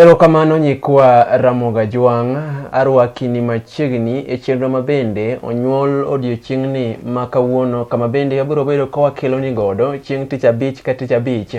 Erokamano nyikwa Ramoga Jwang', arwakini machiegni e chenro ma bende onyuol odiochieng'ni ma kawuono kama bende wabiro bedo ka wakeloni godo chieng' tich abich ka tich abich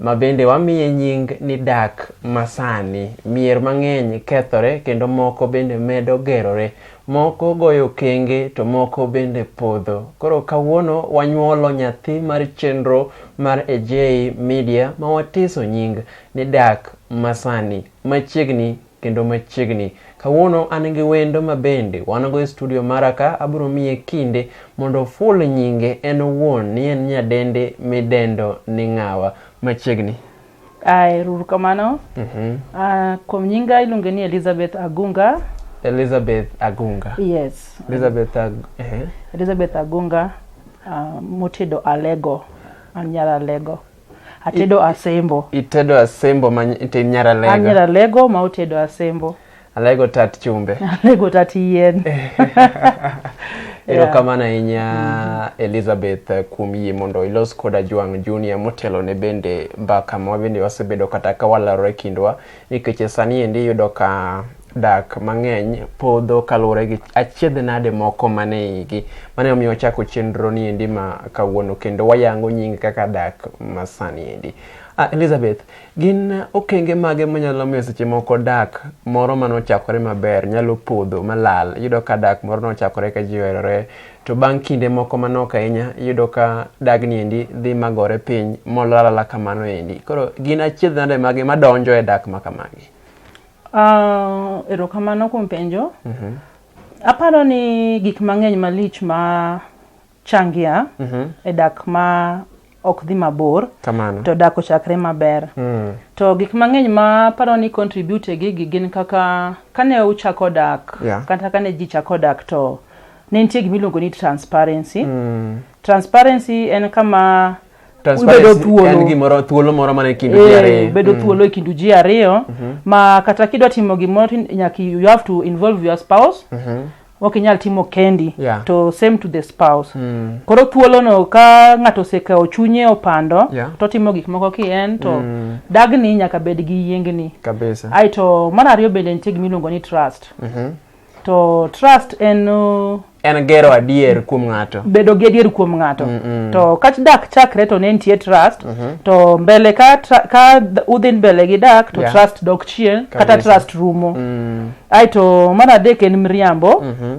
ma bende wamiye nying ni dak masani. Mier mang'eny kethore kendo moko bende medo gerore. Moko goyo kenge to moko bende podho. Koro kawuono wanyuolo nyathi mar chenro mar Ejei Media ma watiso nying ni Dak Masani. Machiegni kendo machiegni. Kawuono an gi wendo ma bende wan go e studio mara ka abiro miye kinde mondo oful nyinge en owuon ni en nyadende midendo ni ng'awa. Machiegni. Ay, ruru kamano. Mhm. Ah, kuom nyinga iluonge ni Elizabeth Agunga. Elizabeth Agunga. Yes. Elizabeth Ag eh. Elizabeth Agunga ah, motedo alego. An nyar alego. Atedo asembo. Itedo asembo ma ite nyara An nyar lego. alego ma otedo asembo. Alego tat chumbe. Alego tat yien. Erokamano ahinya mm-hmm. Elizabeth eh, kuom yie mondo ilos koda Jwang' Junior motelo ne bende mbaka ma bende wasebedo kata ka walalore kindwa nikech e sani endi iyudo ka dak mang'eny podho kaluwore gi achiedh nade moko mane igi mane omiyo wachako chenro ni endi ma kawuono kendo wayango nying kaka dak masani endi uh, Elizabeth Gin okenge mage manyalo miyo seche moko dak moro mane ochakore maber nyalo podho malal? Iyudo ka dak moro nochakore ka ji oherore to bang' kinde moko manok ahinya iyudo ka dagni endi dhi magore piny molalala kamano endi. Koro gin achiedh nade mage madonjo e dak ma kamagi? Uh, erokamano kuom penjo. Mm -hmm. Aparo ni gik mang'eny malich ma changia e dak ma ok dhi mabor Kamano. to dak ochakre maber Mm. to gik mang'eny ma paro ni contribute e gigi gin kaka kane uchako dak Yeah. kata kane ji chako dak to ne nitie gima iluongo ni transparency Mm. transparency en kama ubedo Transparency thuolo en gimoro thuolo moro mane kind ji Eh, ariyo. bedo Mm. thuolo e kindu ji ariyo ma kata kidwa timo gimoro to nyaka you have to involve your spouse Mhm. ok inyal timo kendi Yeah. to same to the spouse Mm. koro thuolono ka ng'ato osekawo chunye opando Yeah. to timo gik moko ki en to Mm. dagni nyaka bed gi yiengni Kabisa. ae to mar ariyo bende nitie gima iluongo ni trust Mhm. to trust en uh, En gero adier kuom ng'ato. bedo gi adier kuom ng'ato Mm, mm. to ka dak chakre to ne nitie trust Mhm. to mbele ka, tra- ka d- udhi mbele gi dak to Yeah. trust dok chien kata Kabisa. trust rumo Mm. aeto mar adek en miriambo Mhm.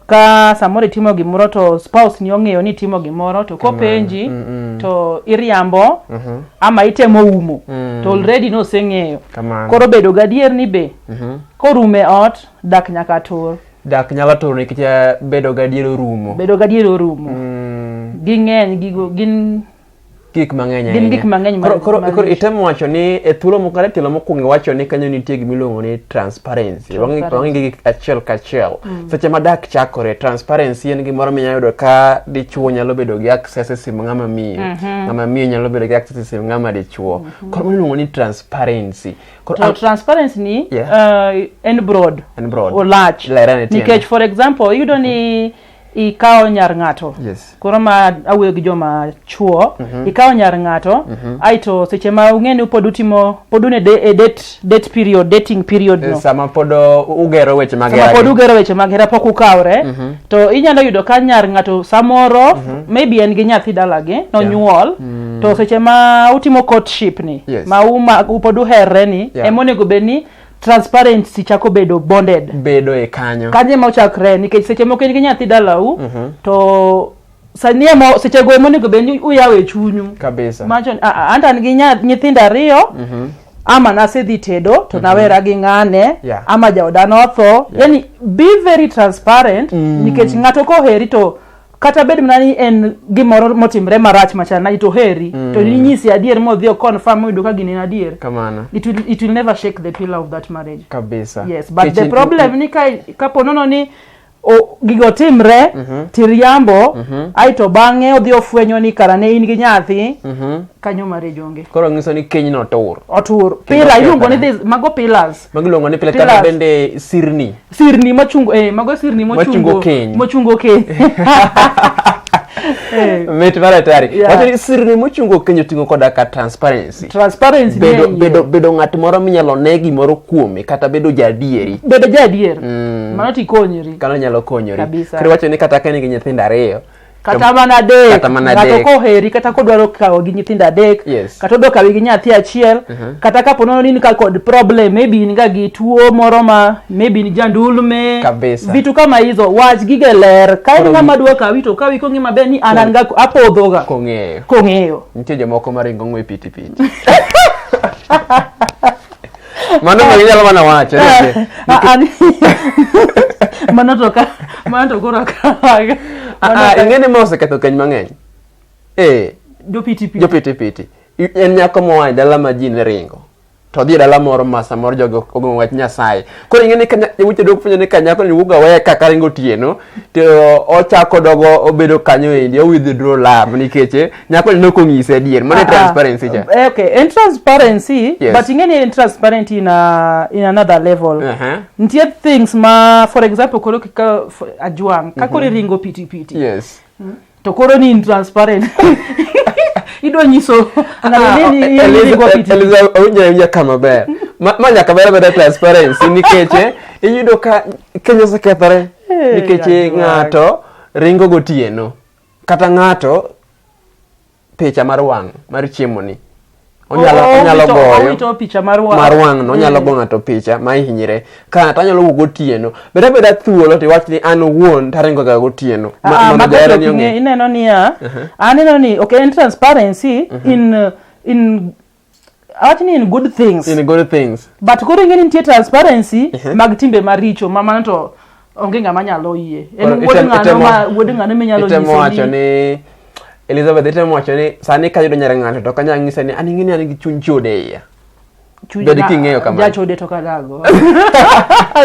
ka samoro itimo gimoro to spouse ni ong'eyo ni itimo gimoro to kopenji Mm, mm. to iriambo Mhm. ama itemo umo Mm. to already noseng'eyo Kamano. koro bedo gadier ni be Mhm. korum e ot dak nyaka tur dak nyalo turo nikech eh, bedo gadier orumo bedo gadier orumo Mm. ging'eny gigo gin gik mang'eny Gin gik mang'eny ma- koro ma- koro itemo wacho ni e thuolo moko kata tielo mokwongo iwacho ni kanyo nitie gima iluongo ni transparency Wang'i- Transparency. wang'i gi achiel kachiel seche ma dak chakore transparency en gimoro minya yudo ka dichuo nyalo bedo gi access e sim ng'ama miyo ng'ama miyo nyalo bedo gi access e sim ng'ama dichuo koro mano iluongo ni transparency koro to ang- transparency ni Yeah. uh, en broad En broad. olach Lere ne tiende. nikech for example iyudo ni ikawo nyar ng'ato yes. koro ma awuoyo gi joma chuo mm -hmm. ikawo nyar ng'ato mm -hmm. aito seche ma ung'e ni pod utimo pod une e date date period dating period no sama pod ugero weche mag sama pod ugero weche mag hera pok ukawre mm -hmm. to inyalo yudo ka nyar ng'ato samoro mm -hmm. maybe en gi nyathi dalagi nonyuol yeah. mm -hmm. to seche ma utimo courtship ni yes. ma uma, pod uherre ni yeah. emonego bed ni transparency chako bedo bonded bedo e kanyo kanyo ema ochakre nikech seche moko in gi nyathi dalau Mhm. to sani emo seche go emonego bed ni uyawo e chunyu kabisa macho ni, "Ah, ah, anta an gi nya- nyithindo ariyo Mhm. ama nasedhi tedo to nawera gi ng'ane Yeah. ama jaoda notho yani be very transparent nikech ng'ato koheri to kata bed mana ni en gimoro motimre marach machal nadi to heri mm. to ninyisi adier modhi o confirm oyudo ka gini en adier kamano it will, it will never shake the pillar of that marriage kabisa yes but Kech the problem ni ka kapo nono ni o, gigo timre mm -hmm. tiriambo mm -hmm. aito bang'e odhi ofwenyo ni kara ne in gi nyathi mm -hmm. kanyo marriage onge koro ng'iso ni kenyno otur otur pila iluongo ni mago pillars magiluongo ni pile Pillars. kata bende sirni sirni machungo eh, mago sirni Machungo mochungo keny. mochungo keny Eh, mit mar atari Yeah. wacho ni sirni mochungo keny oting'o koda ka transparency transparency bedo, ne iye. bedo, bedo ng'at moro minyalo ne gimoro kuome kata bedo jaadieri bedo jaadier mano tikonyri kano nyalo konyori Kabisa. kendo wacho ni kata ka in gi nyithindo ariyo kata mana adek Kata mana ng'ato adek. koheri kata kodwaro kawo gi nyithindo adek Yes. kata odwa kawi gi nyathi achiel kata kapo nono ni in ka kod problem maybe in ga gi tuo moro ma maybe ni jandulme Kabisa. vitu kama hizo wach gige ler ka en ng'ama dwa kawi to kawi kong'e maber ni an an ga apodhoga kong'eyo kong'eyo nitie jomoko maringo ng'we pitipiti Mano be inyalo mana wacho. ni- Ah, ah, ni- mano to ka mano to koro akawaga Ah, ah, ing'e ni ma oseketho keny mang'eny. Eh, jopitipi jopitipiti. I- En nyako moa e dala ma ji ne ringo. To odhi e dala moro ma samoro jogo ogo wach Nyasaye. Koro ing'e ni ka nya- yawuoyi dok fwenyo ni ka nyako ni wuoga weye ka karingo otieno, to ochako dogo obedo kanyo endi o withdraw love nikech eh, nyako ni noko ng'ise adier mano e ah, ah. transparency cha eh, okay en transparency yes. but ing'eni en transparent in, a, in another level uh -huh. nitie things ma for example koro kika ajwang' ka koro mhm. iringo pitipiti yes. mm -hmm. to koro ni intransparent idwa nyiso awinja ka maber ma nyaka ber beda transparency nikech eh, iyudo ka kenya osekethore eh, nikech eh, ng'ato ringo gotieno kata ng'ato picha mar wang' mar chiemoni onyalo onyalo goyo picha mar wang' mar wang' no onyalo mm. go ng'ato picha ma ihinyre ka to anyalo wuok gotieno beda beda thuolo to iwach ni an owuon taringo ga gotieno ma ah, ma ber ni ong'e ineno ni ya uh-huh. aneno ni okay in transparency uh-huh. in uh, in awach ni in good things in good things but koro ing'e ni nitie transparency uh-huh. mag timbe maricho ma mano to onge ng'ama nyalo yie en Koro wuod item- ng'ano itemo- ma wuod ng'ano minyalo itemo wacho nyise ni ni elizabeth itemo wacho ni sani kayudo nyar ng'ato to kanyalo nyise ni an ing'eni an gi chuny chode e iya chuny bed na- king'eyo kamano. jachode to kadago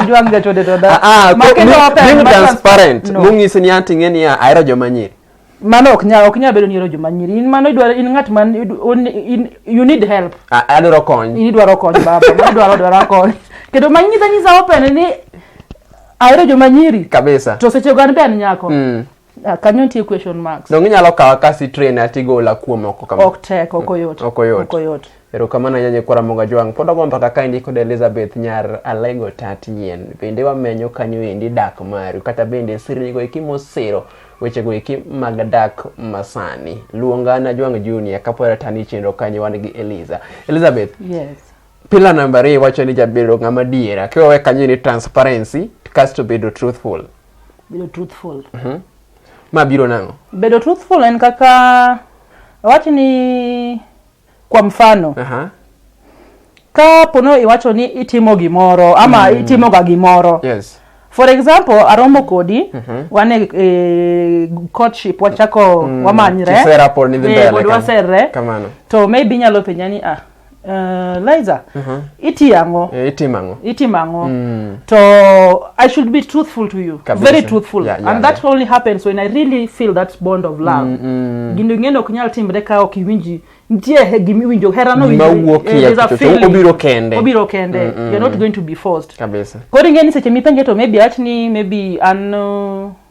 jwang jachode to da Ah, ah, Ma ko- kendo ni- open, being ma trans- transparent No. mong'isi ni an ting'e ni ahero joma nyiri mano ok nyal ok nyal bedo ni ero joma nyiri in mano idwaro in ng'at man you need help adwaro kony in idwaro kony baba mano idwaro dwaro kony kendo ma nyisa nyisa open ni ahero joma nyiri kabisa to seche go an be an nyako mm. Ah, kanyo nitie question marks donge inyalo kawa kasi train atigola kuom oko kama ok tek ok oyot ok oyot Erokamano ahinya Nyikwa Ramogi Ajwang'. Pod wago mbaka ka endi kod Elizabeth nyar Alego Tat Nyien. Bende wamenyo kanyo endi dak maru kata bende sirnigo eki mosiro wechego eki mag dak masani. Luonga na Jwang' Junior kapod atani chenro kanyo wan gi Eliza. Elizabeth, Yes. pila namba ariyo wacho ni jabedo ng'ama diera kiwawe kanyo ni transparency kasto bedo truthful. Bedo truthful. Ma biro nang'o? Bedo truthful en kaka awach ni Kwa mfano. Aha. Ka pono iwacho ni itimo gimoro ama mm. itimo ga gimoro. Yes. For example, aromo kodi mm -hmm. wane e, courtship wachako mm. wamanyre. Kisera pod ni mbele. Eh, Kamano. To maybe nyalo penjani ah. Uh, Liza. Mm -hmm. iti ang'o Eh, itimo ang'o itimo ang'o Mm. to i should be truthful to you Kabisa. very truthful Yeah, yeah, and that only happens when i really feel that bond of love Mm, mm. gino ing'eno ok nyal timre ka ok iwinji nitie he- gima iwinjo herano Gima winji- wuok eh, e there's a kuchocho, feeling. obiro kende. obiro kende Mm, mm, you're not going to be forced kabisa koro ing'e ni seche mipenje to maybe awach ni maybe an uh,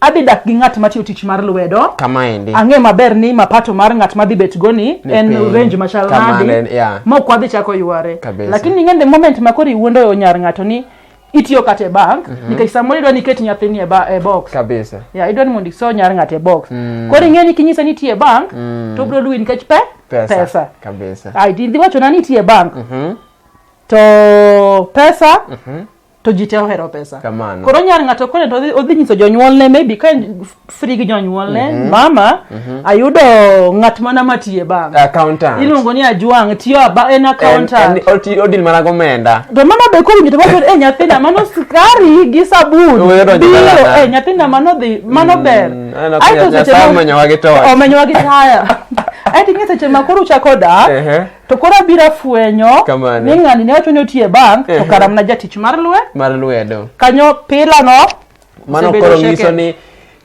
Adhi dak gi ng'at matiyo tich mar lwedo. Kama endi. Ang'e maber ni mapato mar ng'at madhi bet go ni en piny. range machal nadi. Yeah. Ma ok wadhi chako yware. Lakini ng'ende moment ma kori wuondo yo nyar ng'ato ni itiyo kata e bank mm -hmm. nikech samoro idwa ni iket nyathini e, e box kabisa yeah, idwa ni mondo iso nyar ng'ato e box mm. koro ing'e ni kinyise ni itiyo e bank mm. to obiro luwi nikech pe pesa, pesa. kabisa idhi wachona ni itiyo e bank mm -hmm. to pesa mm -hmm. to ji te ohero pesa Kamano. koro nyar ng'ato kone to odhi- odhi nyiso jonyuolne maybe ka en free gi jonyuolne mama ayudo ng'at mana matiye bank accountant iluongo ni ajwang' tiyo aba- en En- accountant en- oti- odil mana gomenda to mama be kowinjo to wacho e nyathina mano skari gi sabun Wewe donjo biro dalana." e nyathina mano dhi mano ber aneno ka Aeto seche Nyasaye ma- omenyowa gi torch. omenyowa gi taya aeto ing'e seche ma koro uchako dak Ehe. to koro abiro afwenyo Kamano. ni ng'ani ne wacho ni otiye bank to Ehe. kara mana jatich mar lwe mar lwedo kanyo pilano mano osebedo koro shaken. nyiso ni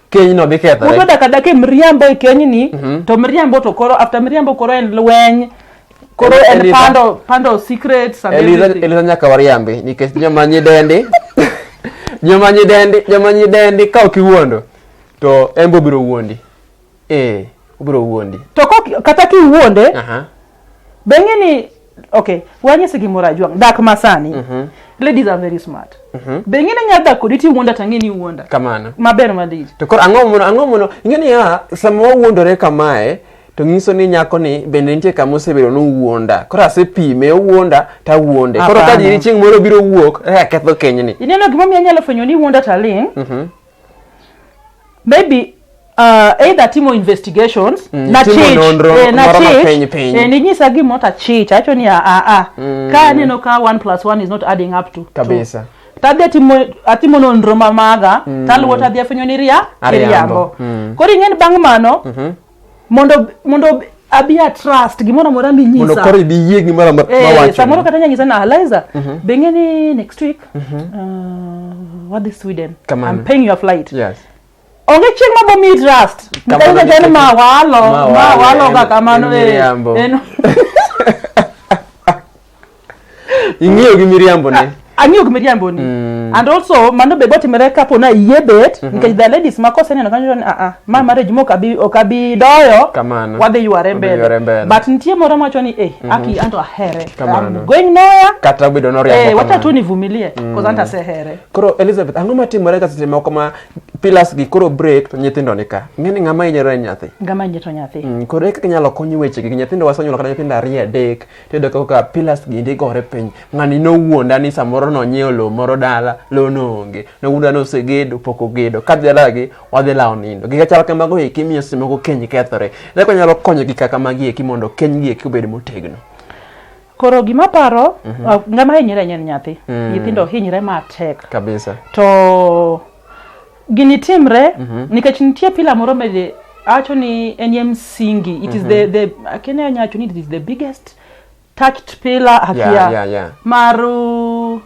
kenyno dhi kethore Udo daka daka mriambo e kenyni to mriambo to koro after mriambo koro en lweny koro En- en Elitha- pando pando secrets and Eliza everything. Eliza nyaka wariambi nikech joma nyidendi joma nyidendi joma nyidendi ka ok iwuondo to en be obiro wuondi eh obiro wuondi to kok- kata kiwuonde aha beng'e ni okay wanyise gimoro ajwang' dak masani ladies are very smart beng'e ni nyalo dak kodi tiwuonda to ang'e ni iwuonda kamano maber malich to koro ang'o mono ang'o mono ing'e ni ya sama wawuondore kamae to nyiso ni nyako ni bende nitie kama osebedo ni owuonda koro asepime owuonda to awuonde koro ka Apana. jiri chieng' moro biro wuok eh, aketho kenyni ineno gimomiyo anyalo fwenyo ni iwuonda taling' maybe uh, either timo investigations Mm, na timo chich nonro eh, na moro ma chich piny piny. eh, ninyisa gima ota chich acho ni a a a ka aneno ka 1 plus 1 is not adding up to Kabisa. two. tadhi atimo atimo nonro ma maga taluwo tadhi afwenyo ni ria Ariambo. iriambo koro ing'eni bang' mano mondo mondo abi a trust gimoro amora minyisa mondo koro ibi yie gimoro amora eh, mawacho samoro kata nyanyisa na Eliza mm -hmm. be ng'eni next week mm -hmm. uh, wadhi Sweden Come I'm paying your flight yes onge chieng' ma bomi trust nikech jani ma walo ma walo ga kamano eh, en ing'iyo gi miriambo ne ang'iyo gi miriambo ni Mm. and also mano be gotimore kapo na iyie bet nikech the ladies ma koseneno kanyo to ni aa ma marriage ma ok abi ok abi doyo Kamano. wadhi yware Wadhi yware mbele mbele. but nitie moro mawacho ni eh aki anto ahere Kamano. I'm going nowhere kata obedo eh noriambo wacha tu kamano. nivumilie cause anto asehere koro elizabeth ang'o matimore ka seche moko ma pilas gi koro break to nyithindo ni ka ing'e ni ng'ama hinyore en nyathi ngama nyeto nyathi Mm, koro eka inyalo kony wechegi nyithindo wasonyuolo kata nyithindo ariyo adek tiyudo kaka pillars gi ndi gore piny ng'ani nowuonda ni samoro nonyiewo lowo moro dala lowo noonge nowuonda ni osegedo pok ogedo kadhi dalagi wadhi lawo nindo gika chal kamago eki miyo seche moko keny kethore ere kaka nyalo konyo gika kamagi eki mondo kenygi eki obed motegno koro gima paro ah, ng'ama hinyre en nyathi nyithindo hinyre matek kabisa to Gini timre nikech nitie pila moro mede awacho ni en ye msingi. It is the the akene anya wacho ni it is the biggest touched pillar Yeah, akia yeah, yeah. mar uh,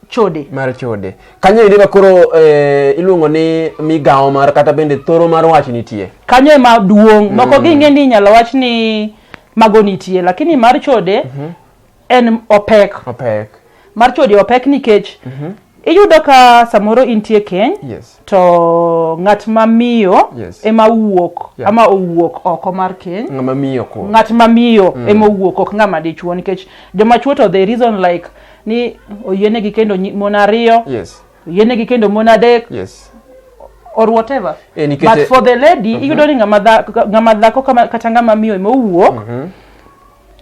chode. mar chode kanyo eri ma koro eh, iluongo ni migawo mar kata bende thoro mar wach nitie kanyo ema duong' moko ging'e ni inyalo wach ni mago nitie lakini mar chode en opek opek mar chode opek nikech iyudo ka samoro intie keny yes to ng'at ma miyo Yes. ema wuok Yeah. ama owuok oko mar keny ng'ama miyo ko ng'at ma miyo ema owuok ok ng'ama dichuo nikech joma chuo to the reason like ni oyienegi kendo nyi- mon ariyo yes oyienegi kendo mon adek yes or whatever Eh, nikech- but for the lady iyudo ni ng'ama dha- ng'ama dhako kama- kata ng'ama miyo ema owuok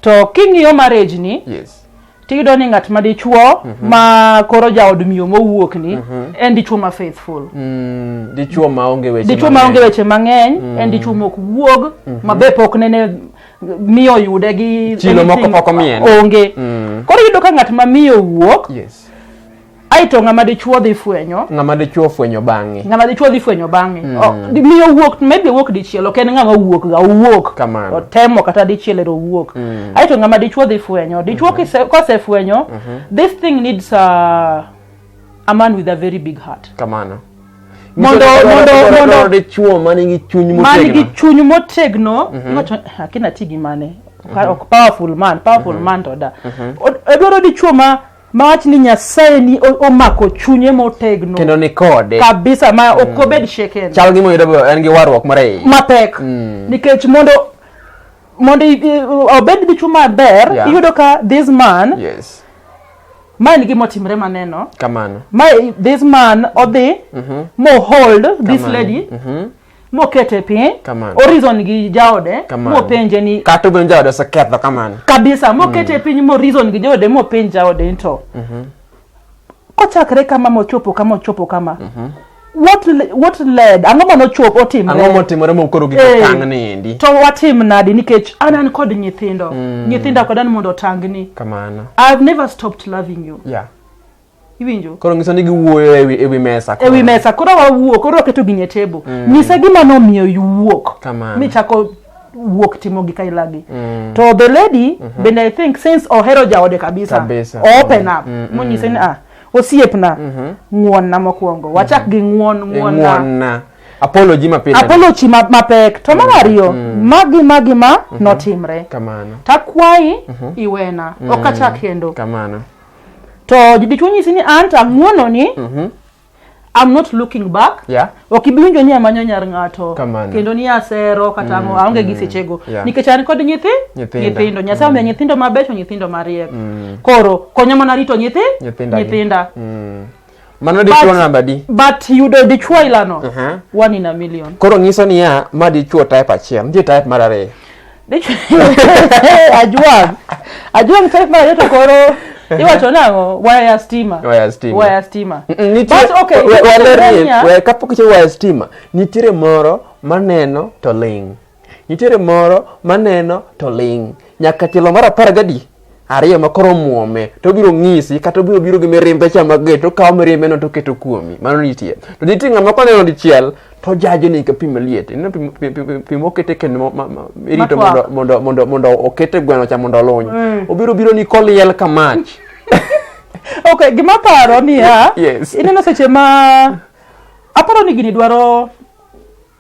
to king'iyo marriage ni yes tiyudo ni ng'at ma dichuo mhm. ma koro jaod miyo mowuok ni mhm. en dichuo ma faithful mm, dichuo ma onge weche dichuo ma onge weche mang'eny mm. en dichuo mok wuog mhm. ma be pok nene miyo yude gi chilo moko pok omien onge mm. koro yudo ka ng'at ma miyo wuok yes aeto ng'ama dichuo dhi fwenyo ng'ama dichuo fwenyo bang'e ng'ama dichuo dhi fwenyo bang'e mm. oh, miyo wuok maybe wuok dichiel ok en ng'ama wuok ga owuok kamano otemo kata dichiel ero wuok mm. aeto ng'ama dichuo dhi fwenyo dichuo mm -hmm. kosefwenyo mm -hmm. this thing needs a, a man with a very big heart kamano mondo mondo mondo dichuo man gi chuny motegno man gi chuny motegno mm -hmm. akina tigi mane mm -hmm. ok powerful man powerful mm -hmm. man to da mm -hmm. edwaro dichuo ma ma wach ni nyasaye ni o- omako chunye motegno kendo ni kode kabisa ma ok obed shaken chal gi moyudo be en gi warruok moro e iye mapek nikech mondo mondo i- i- obed dichu maber Yeah. iyudo ka this man yes ma en gima otimre maneno kamano ma i- this man odhi mohold this Kamano. lady mokete piny orizon gi jaode mopenje ni kata obedo jaode oseketho kamano kabisa mokete mm. piny morizon gi jaode mopenj jaode nto mm -hmm. kochakre kama mochopo kama ochopo kama mm -hmm what what led ang'o ma nochop otimre ang'o motimore ma koro giko eh, tang ni endi to watim nadi nikech an an kod nyithindo mm. nyithinda kod an mondo otangni kamano i have never stopped loving you yeah iwinjo koro ngiso ni giwuoyo ewi ewi mesa koro. ewi mesa koro wawuo koro waketo gini e table mm. nyisa gima nomiyo iwuok Kamano. michako wuok timo gi kailagi mm. to the lady mm -hmm. bende i think since ohero jaode kabisa, kabisa. open up mm -hmm. monyise ni ah osiepna mm -hmm. ng'wonna mokwongo wachak mm -hmm. gi ng'won ng'wonna apology mapile apology ma, mapek to mar mm, ariyo mm. magi magi ma mm -hmm. notimre kamano takwayi mm -hmm. iwena mm -hmm. okachak kendo kamano to dichwo nyisi ni an to ang'wononi Mhm. I'm not looking back Yeah. ok ibi winjo ni amanyo nyar ng'ato Kamano. kendo ni asero kata ang'o aonge gi sechego Yeah. nikech an kod nyithi Nyithindo. nyithindo nyasaye omiya nyithindo mabecho nyithindo mariek koro konya mana rito nyithi Nyithinda gi. nyithinda Mm. Mano dichuo But- namba di. but yudo dichuo ailano Aha. one in a million Koro nyiso niya ma dichuo type achiel, nitie type mar ariyo. Dichuo- ajwang ajwang type mar ariyo to koro iwacho nang'o waya ya stima Waya stima. waya stima Mm, mm, nitie- But okay, we- we- waler ni- Tanzania- we- kapok ichako waya stima, nitiere moro maneno to ling'. Nitiere moro maneno to ling'. Nyaka tielo mar apar gadi ariyo ma koro muome to obiro ng'isi kata obiro biro gi mirimbe cha mager to okawo mirimbe no to oketo kuomi mano nitie to nitie ng'ama koneno dichiel to jajo ni ka pi maliet ineno pi- pi- pi- pi mokete kendo ma- ma- ma- irito mondo Matwak. mondo mondo mondo okete gweno cha mondo oluny obiro biro ni koliel ka mach okay gima paro niya Yes. ineno seche ma aparo ni gini dwaro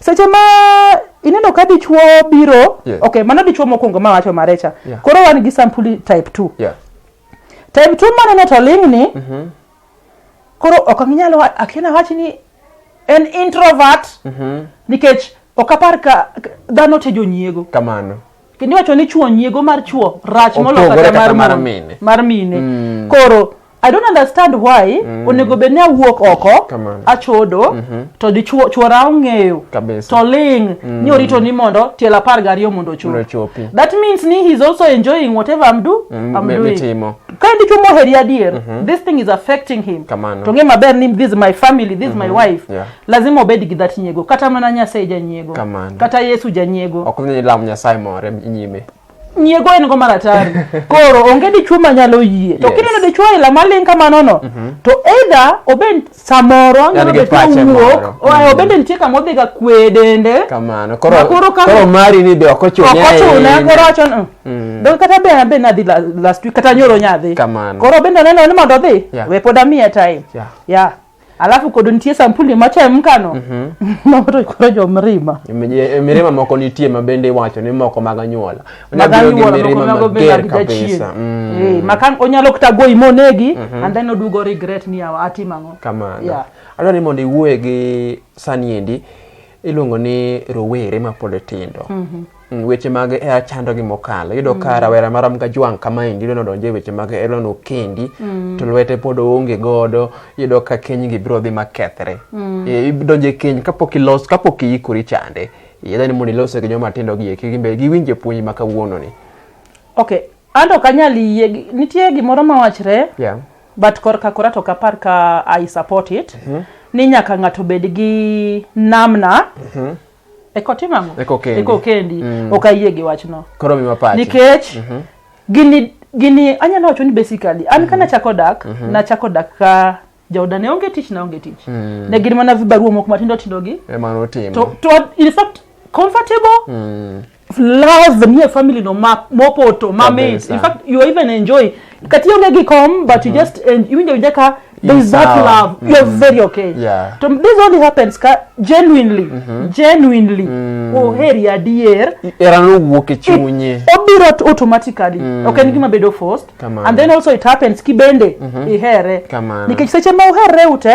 seche ma ineno ka dichuo biro yeah. okay mano dichuo mokwongo ma wacho marecha yeah. koro wan gi sampuli type 2 yeah. type 2 maneno to ling ni mm -hmm. koro ok anginyal akiana wachi ni en introvert mm -hmm. nikech ok apar ka dhano te jonyiego kamano kendo iwacho ni chwo nyiego mar chwo rach moloyo Opogore kata kata mar mar mon- mine. mar mine Mm. koro i don't understand why Mm. onego bed ni awuok oko Kamano. achodo Mhm. to dichwo chwora ong'eyo Kabisa. to ling Mm. ni orito ni mondo tiel apar gariyo mondo ochop Mondo ochopi. that means ni he's also enjoying whatever i'm, do, Mm, I'm mi- doing mitimo. ka en dichwo moheri adier Mhm. this thing is affecting him Kamano. to ng'e maber ni this is my family this is my Mhm. wife Yeah. lazima obed gi that nyiego kata mana nyasaye janyiego Kamano. kata yesu janyiego ok ni lam nyasaye more nyime nyiego en go maratari koro onge dichuo manyalo yie to Yes. kineno dichuo aila maling kamanono to either obed samoro En anyalo gi bet pache moro. nowuok oa- Mhm. obende nitie kama odhiga kwe dende kamano koro Ma koro kama- koro mari ni be ok ochune okochune ahinya. koro wacho ni, Mm. "Dong kata be abe nadhi la- last week kata nyoro nyadhi Kamano. koro bende oneno ni mondo odhi Yeah. we pod amiye time Yeah. yeah alafu kodo nitie sampuli machemkano mhm. mamoto koro jo mirima e, mirima moko nitie ma bende iwacho ni moko mag anyuola makan onyalo kata goyi monegi mhm. and then odugo regret ni awa atim ang'o kamano adwa ni mondo iwuoye gi sani endi iluongo ni rowere mapod tindo mhm. Mm, weche mag hera eh, chando gi mokalo iyudo ka mm. rawera marom ga jwang' kamaendi idwa nodonje weche mag hera eh, nokendi mm. to lwete pod oonge godo iyudo ka kenygi biro dhi makethre eh, idonje keny kapok ilos kapok iikori chande yedha ni mondo ilose gi joma tindo gi eki gimbe giwinje puonj ma kawuono ni ok ando kanyal yie nitie gimoro mawachre yeah. but korka kora to kapar ka i support it mm -hmm. ni nyaka ng'ato bed gi namna mm -hmm eko tim ang'o eko kendi, eko kendi. Mm. ok ayie gi wachno koro miwa pache nikech mm -hmm. gini gini anyalo wacho ni basically an mm -hmm. kana chako dak mm -hmm. nachako dak ka jaoda ne onge tich na onge tich mm. ne gin mana vibaruo moko matindo tindo gi e to, to in fact comfortable mm. love nie family no ma mopoto ma mit Kabisa. in fact you even enjoy kati onge gi kom but you just en- iwinjo winja ka there is that Sawa. love you are very okay Yeah. to this only happens ka genuinely genuinely oheri adier Erano wuok e chunye. obiro t- automatically ok en gima bedo forced Kamano. and then also it happens ki bende ihere Kamano. nikech seche ma uherre ute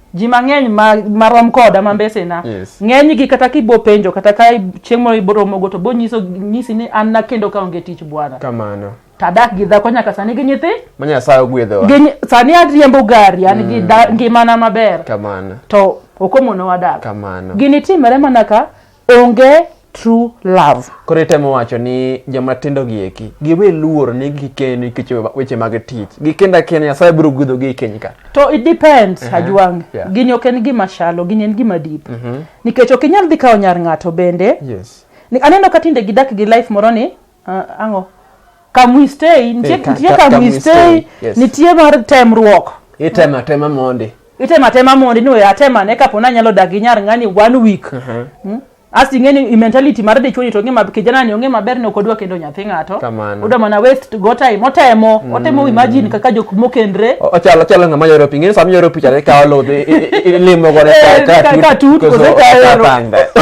ji mang'eny ma, ma rom koda ma mbesena Yes. ng'enygi kata kibo penjo kata ka chieng' moro iboromogo to bonyiso nyisi ni an nakendo ka onge tich bwana kamano tadak gi dhako nyaka sani gi nyithi ma nyasaye ogwedhowa gi nyi- sani ariembo gari an gi da- ngimana maber kamano to ok omono wadak kamano gini timore mana ka onge true love. Koro itemo wacho ni joma tindo gi eki giwe luor ni gikeni nikech weche mag tich. Gikenda kenda Nyasaye biro gudho gi keny ka. To it depends uh -huh. Ajwang. Yeah. Gini ok en gima shalo, gini en gima deep. Uh mhm. -huh. Nikech ok inyal dhi kawo nyar ng'ato bende. Yes. Ni aneno ka tinde gidak gi life moro ni uh, ango kamwistei nitie ka- nitie ka- kamwistei kamwistei, yes. nitie mar temruok itema tema mondi itema tema mondi ni oya atema ne kapo ni anyalo dagi nyar ng'ani one week Mm. as ing'e ni i mentality mar dichwoni to ong'e ma kijana ni ong'e maber ni ok odwa kendo nyathi ng'ato Kamano. odwa mana waste go time otemo otemo imagine kaka jok mokendre O- ochalo ochalo ng'ama yoro pi ng'eni sama yoro picha to ikawo lodhi i- i- i- ilimo godo Eh, ka- ka- ka tut, koso ka tut.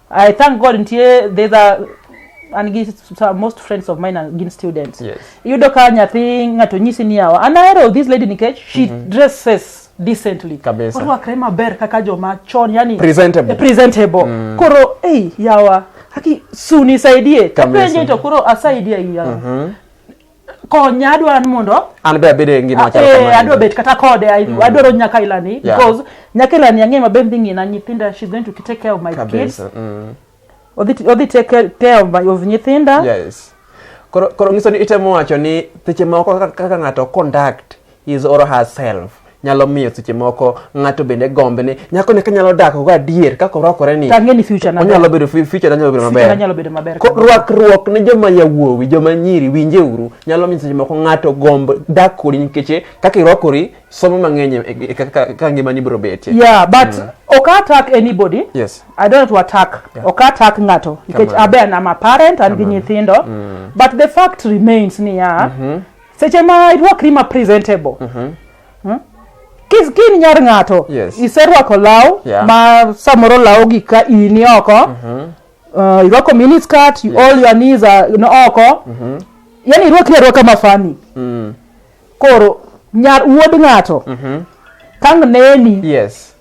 I thank God nitie there's a an gi some- most friends of mine are gin students. Yes. Iyudo ka nyathi ng'ato nyisi ni yawa an ahero this lady nikech she dresses decently. Kabisa. Orwakre maber kaka joma chon yani Presentable. eh, presentable. Koro hey yawa haki suni saidie. Kabisa. Kapenje to koro asaidia yawa. konya adwaro ni mondo an be abede ngima machal eh, kamano adwa bet kata kode mm. adwaro nyaka ilani yeah. because nyaka ilani ang'e maber dhi ng'ina nyithinda she's going to take care of my Kabisa. kids mm. odhi take care of, of nyithinda yes koro koro ngiso ni itemo wacho ni seche moko kaka ng'ato conduct his or herself nyalo miyo seche moko ng'ato bende gombe ni nyako ne kanyalo dak go adier kaka orwakore ni Tange ni future na. onyalo bedo fu- future nyalo bedo Future nyalo bedo maber. maber. Ko- Rwakruok ne joma yawuowi, joma nyiri winje uru nyalo miyo seche moko ng'ato gomb dak kodi nikech kaka irwakori somo mang'eny e- e- kaka kaka ngimani biro betie. Yeah, but ok attack anybody. Yes. I don't want to attack. Ok attack ng'ato nikech Kamano. abe an am a parent an gi nyithindo. But the fact remains ni ya seche ma irwakri ma presentable mm -hmm. hmm? Kis kin nyar ng'ato yes. iserwako law yeah. ma samoro law gi ka ini oko mm -hmm. uh, irwako mini skirt yes. all your knees are oko mm -hmm. yani irwakri arwaka mafani mm. koro nyar wuod ng'ato mm -hmm. kang neni yes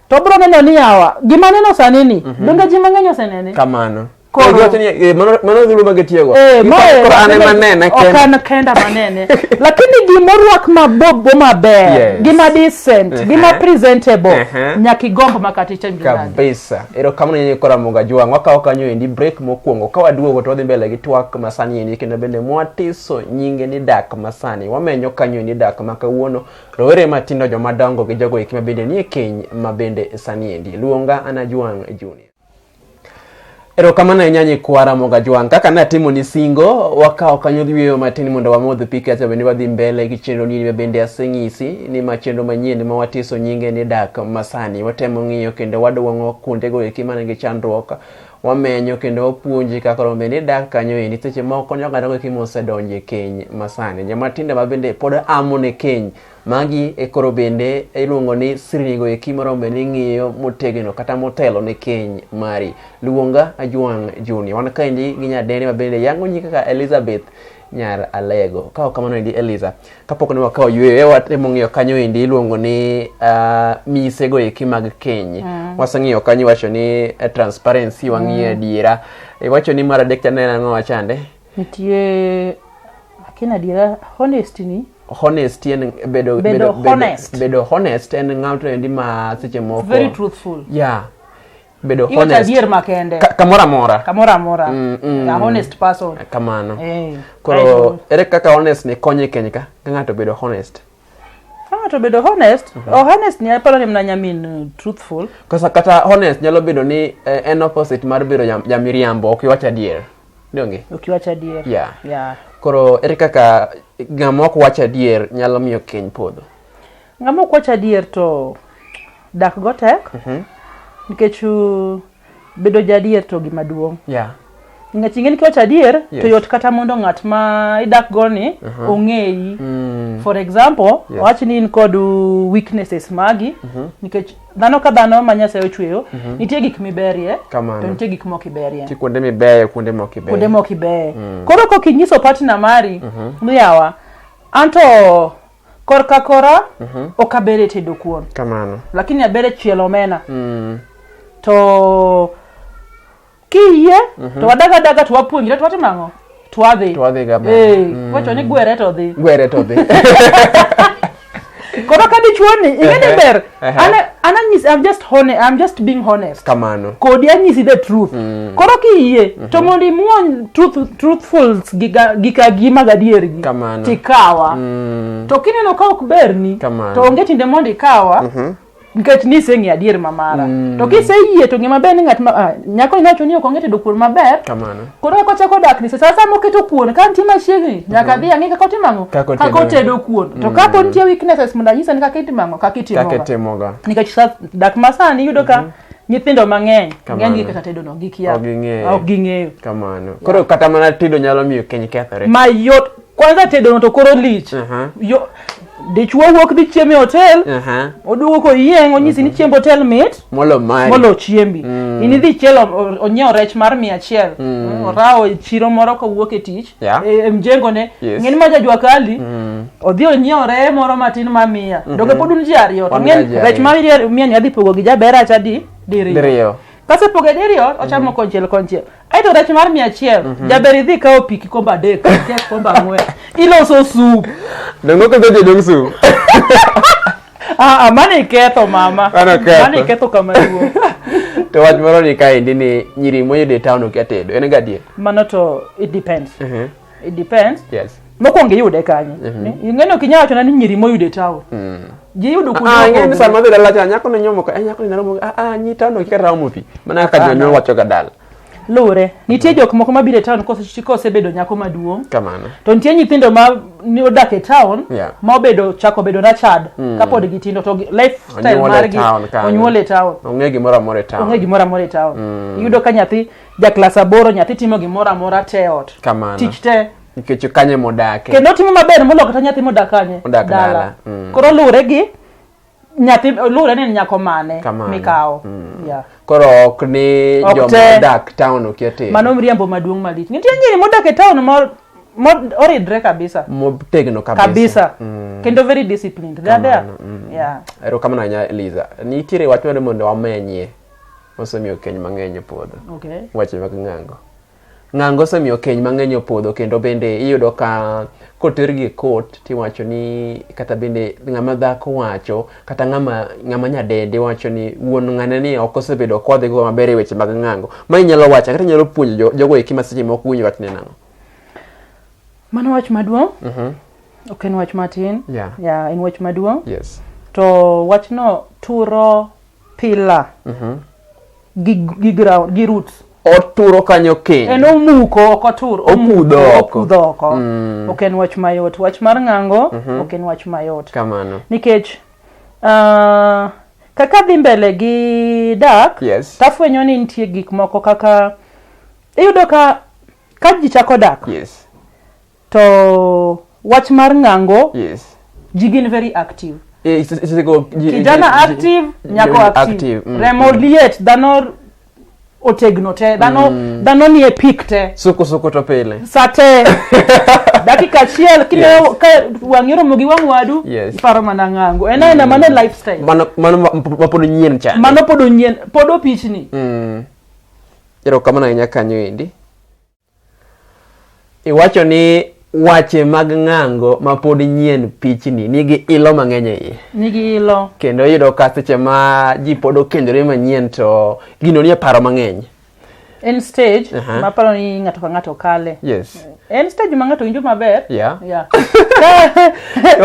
to bro neno ni yawa gima neno sani ni mm -hmm. donge ji mang'eny osenene kamano Koro wacho ni eh, mano mano dhulu ma gitiyogo. Eh, Iko- mae- koro an ema nena ok kenda. an kenda manene lakini gimorwak mabobo maber Yes. gima decent Ehe. gima presentable Ehe. nyaka igomb makaticha mjulani kabisa erokamano nyenye kora moga jwang wakawo kanyo endi break mokwongo ka waduogo to wadhi mbele gi twak masani endi kendo bende mwatiso nyinge ni dak masani wamenyo kanyo endi dak ma kawuono rowere matindo jomadongo gi jogo eki mabende nie keny mabende sani endi luonga ana jwang junior Erokamano ahinya nyikwa Ramoga Jwang'. Kaka ne atimoni singo, wakawo kanyo yueyo matin mondo wamodh pi kacha bende wadhi mbele gi chenro ni ma bende aseng'isi ni ma chenro manyien ma watiso nyinge ni dak masani. Watemo ng'iyo kendo wadwong'o kuondego eki man gi chandruok. Wamenyo kendo wapuonji kaka rombe ni dak kanyo endi seche moko konyo oganda eki mosedonjo e keny masani. Joma tindo ma bende pod amo ne keny Magi e koro bende iluongo ni sirnigo eki morombe ni ng'iyo motegno kata motelo ne keny mari. Luonga Ajwang' Junior. Wan kaendi gi nyadendi ma bende yango nyi kaka Elizabeth nyar Alego. Ka ok kamano endi Eliza, kapok ne wakawo yweyo e wat e mong'iyo kanyo endi iluongo ni ah, misego eki mag keny. Waseng'iyo kanyo iwacho ni eh, transparency wang'iyo adiera. Iwacho ni mar adek cha ne en ang'o wachande? nitie akin adiera honest ni honest en bedo Bedo honest. bedo honest en ng'ato endi ma seche moko very truthful yeah bedo iwacho honest adier makende Ka- kamoro amora kamoro amora Mm, mm. a honest person kamano Eh, koro ere kaka honest ni konye keny ka ka ng'ato bedo honest Ah, to bedo honest oh, honest ni aparo ni mna nyamin uh, truthful Kosa kata honest nyalo bedo ni eh, en opposite mar bedo jam- jamiriambo ok iwach adier. Donge? ukiwacha adier Yeah. yeah. Koro ere kaka ng'ama ok wach adier nyalo miyo keny podho. ng'ama ok wacha adier to dak go tek nikech uh, bedo jadier to gima duong' yeah. ngech ing'eni kiwach adier yes. to yot kata mondo ng'at ma idak go ni uh -huh. ong'eyi mm. for example yes. wach ni in kod weaknesses magi uh mhm. -huh. nikech dhano ka dhano ma nyasaye ochweyo uh mhm. -huh. nitie gik miberie to nitie gik mok iberie kuonde mibeyo kuonde mok ibeyo kuonde mok ibeyo mm. koro kok inyiso partner mari uh mhm. -huh. miyawa anto Korka kora ok aber e tedo kuon, Kamano. lakini aber e chielo omena. Mm. To kiyie to wadaga adaga to wapuonjre to watimo ang'o? To wadhi. To wadhi ga mbele. Eh, Mm. wacho ni gwere to dhi. Gwere to dhi. Koro ka dichuoni ing'e ni Ehe. ber Ehe. Ana- ananyisi i'm just hone, i'm just being honest kamano kodi anyisi the truth koro kiyie to mondo imuony truth, truthfuls gi ga- gi ka gi mag adiergi Kamano. tikawa to kineno ka ok berni Kamano. to onge tinde mondo ikawa nikech niseng'e adier mamara to kiseyie to ng'e maber ni ng'at ma ah, nyako inacho ni ok onge tedo kuon maber kamano koro eka ochako dak ni sasa sama oketo kuon ka nitie machiegni nyaka dhi ang'e kaka otimo ang'o Kaka otedo. kaka otedo kuon to Mm. kapo nitie weaknesses mondo anyisa ni kaka itimo ang'o kaka kaka itimoga itimoga nikech sa- dak masani iyudo ka nyithindo mang'eny Kamano. ng'enygi kaka tedo no gikia Ok ging'eyo. ok ging'eyo kamano koro kata mana tedo nyalo miyo keny kethore mayot kwanza tedono to koro lich Aha. Yo- dichwo wuok dhi chiemo e hotel Aha. oduogo koyieng onyisi ni chiemb hotel mit Molo mari. molo chiembi in idhi chielo o- onyiewo rech mar mia achiel orawo e chiro moro kowuok e tich Yeah. e- e mjengone Yes. ng'eni ma jajwa kali odhi onyiewo reye moro matin ma miya doge pod un ji ariyo to Wan ng'eni ga ji rech ariyo. ma miya- miya ni adhi pogo gi jaber acha di diriyo Diriyo. kasepoge diriyo ochamo konchiel konchiel aito rech mar mia achiel mhm. jaber idhi kawo pi kikombe adek kek kombe ang'wen iloso sup dongo kendo jodong sup ah, ah, mane iketho mama mane iketho kama duong to wach moro ni kaendi ni nyiri moyudo e town okia tedo en gadier mano to it depends uh mhm. -huh. it depends yes mokwongo iyude kanye ing'eni ok inyal wachona ni nyiri moyude town ji iyudo kuonde Ah, ing'eyo ni mopogore. sama biro lacha nyako ne nyomo ka eh, nyako ni naromo ah ah nyi tano kika raomo pi mana kaka Ah, jonyuol no. wacho ga dal luwre nitie jok moko mabiro e town kose- kosebedo nyako maduong' kamano to nitie nyithindo ma ni odak e town Yeah. ma obedo chako bedo na chad kapod gitindo to gi- lifestyle Onyuol e margi town kanyo. onyuol e town ong'e gimoro amora e town onge gimoro amora e town iyudo ka nyathi ja klas aboro nyathi timo gimoro amora te e ot Kamano. tich te nikech kanye modake kendo otimo maber moloyo kata nyathi modak kanye Odak dala. Mm. koro luwre gi nyathi luwre ni en nyako mane Kamano. mikawo yeah. koro ok ni Ok joma te. odak town okia tero mano mriambo maduong' malich nitie nyiri modak e town mo- mo- oridre kabisa motegno kabisa kabisa kendo very disciplined they are there Kamano, mm. yeah erokamano ahinya eliza nitiere wach mane mondo wamenyie osemiyo keny mang'eny opodho. Okay. Weche mag ng'ango. Ng'ango osemiyo keny mang'eny opodho kendo bende iyudo ka kotergi e court tiwacho ni kata bende ng'ama dhako wacho kata ng'ama ng'ama nyadendi wacho ni wuon ng'ane ni ok osebedo kodhi go maber e weche mag ng'ango. Ma inyalo wacho kata inyalo puonjo jo- jogo eki ma seche moko winjo wach ni nang'o. Mano wach maduong'. Ok en wach matin. Yeah. Yeah, en wach maduong'. Yes. To wachno turo Pillar. Gi, gi ground, gi roots. Oturo kanyo keny. En omuko ok otur. Okudho oko. Okudho oko. Ok en wach mayot. Wach mar ng'ango ok en wach mayot. Kamano. Nikech ah, kaka dhi mbele gi dak, Yes. tafwenyo ni nitie gik moko kaka iyudo ka ka ji chako dak, Yes. To wach mar ng'ango, Yes. ji gin very active. Eh, it's- it's like, oh, ji- ji- Kijana ji- active, ji- nyako ji- active. active, mm, Remo mm. liet, dhano otegno te, dhano dhano nie peak te. Suku suku to pile. Saa te. Dakika achiel kine Yes. ka wang'i oromo gi wang' wadu, Yes. iparo mana ng'ango. En aena mano lifestyle. Mano mano ma- ma pod nyien chande. Mano pod onyien, pod opichni. Mm. Erokamano ahinya kanyo endi. Iwacho ni wache mag ng'ango ma pod nyien pichni nigi ilo mang'eny e iye. Nigi ilo. Kendo iyudo ka seche ma ji pod okendore manyien to gino nie paro mang'eny. En stage uh -huh. maparo ni ng'ato ka ng'ato kale. Yes. En stage ma ng'ato winjo maber. Yeah. Yeah.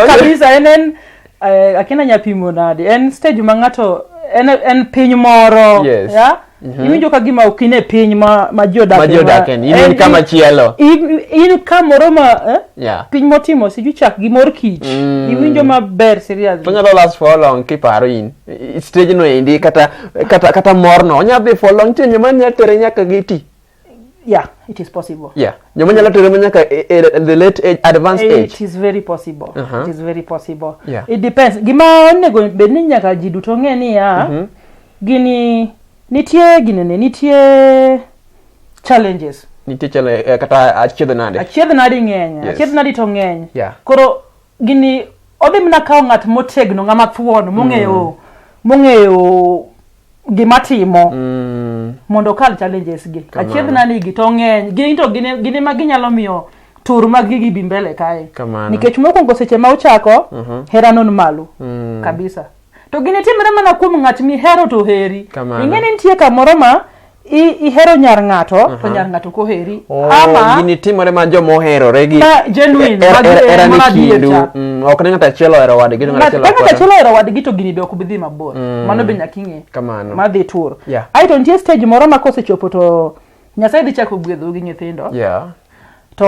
Kabisa en en uh, akina nyapimo nade. En stage ma ng'ato en, en piny moro. Yes. Yeah? Mhm. iwinjo ka gima ok in e piny ma ma ji odakie, Ma ji odakie, in- in kama chielo. in in kamoro ma eh? Yeah. piny motimo siju chak gi mor kich Mm. iwinjo maber seriously Onyalo last for how long kiparo in I- stage no endi kata kata kata morno onyalo dhi for long time mani atere nyaka giti. Yeah, it is possible. Yeah. Joma nyalo tere nyaka e, e, at the late age, advanced age. It is very possible. Uh -huh. It is very possible. Yeah. It depends. Gima onego bed ni nyaka ji duto ng'e ni ya, mm -hmm. gini nitie ginene nitie challenges. Nitie challenge eh, kata achiedh nade. Achiedh nade ng'eny. Yes. Achiedh nade to ng'eny. Yeah. Koro Gini odhi mana kawo ng'at motegno ng'ama thuon mong'eyo mm. mong'eyo gima timo mm. mondo okal challenges gi achiedh na nigi to ng'eny gin to gine ma ginyalo miyo tur mag gigi bi mbele kae nikech mokwongo seche ma uchako mm -hmm. hera non malo mm. kabisa to ginitimre mana kuom ng'at mihero to heri Kamano. ing'e ni nitie kamoro ma i- ihero nyar ng'ato to nyar ng'ato koheri Oh, ama ginitimore ma joma oherore gi Ma genuine, er- ma er- gi- era ni ma adier kindu cha. Mm, ok ne ng'ato achiel ohero wadgi to ng'ato achiel ok ng'ato ohero achiel ohero wadgi to gini be ok bi dhi mabor mano be nyaka ing'e Kamano. ma dhi tur Yeah. aeto nitie stage moro ma kosechopo to nyasaye dhi chako gwedhou gi nyithindo yeah. to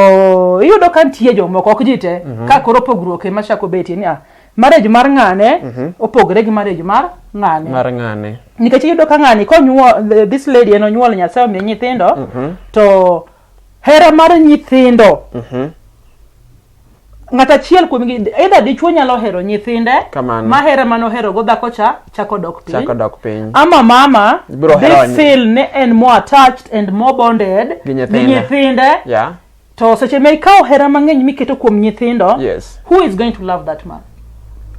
iyudo ka nitie jomoko ok ji te mm -hmm. ka koro pogruok ema chako betie ni ah, marriage mar ng'ane mm -hmm. opogore gi marriage mar ng'ane mar ng'ane nikech iyudo ka ng'ani konyuol this lady en onyuol nyasaye omiye nyithindo mm -hmm. to hera mar nyithindo mm -hmm. ng'at achiel kuom gi either dichuo nyalo hero nyithinde Kamano. ma hera mano hero go dhako cha chako dok piny Chako dok piny. ama mama Biro hero dhi nyi- feel ne en more attached and more bonded Gi nyithinde. nyithinde Yeah. to seche ma ikawo hera mang'eny miketo kuom nyithindo Yes. who is going to love that man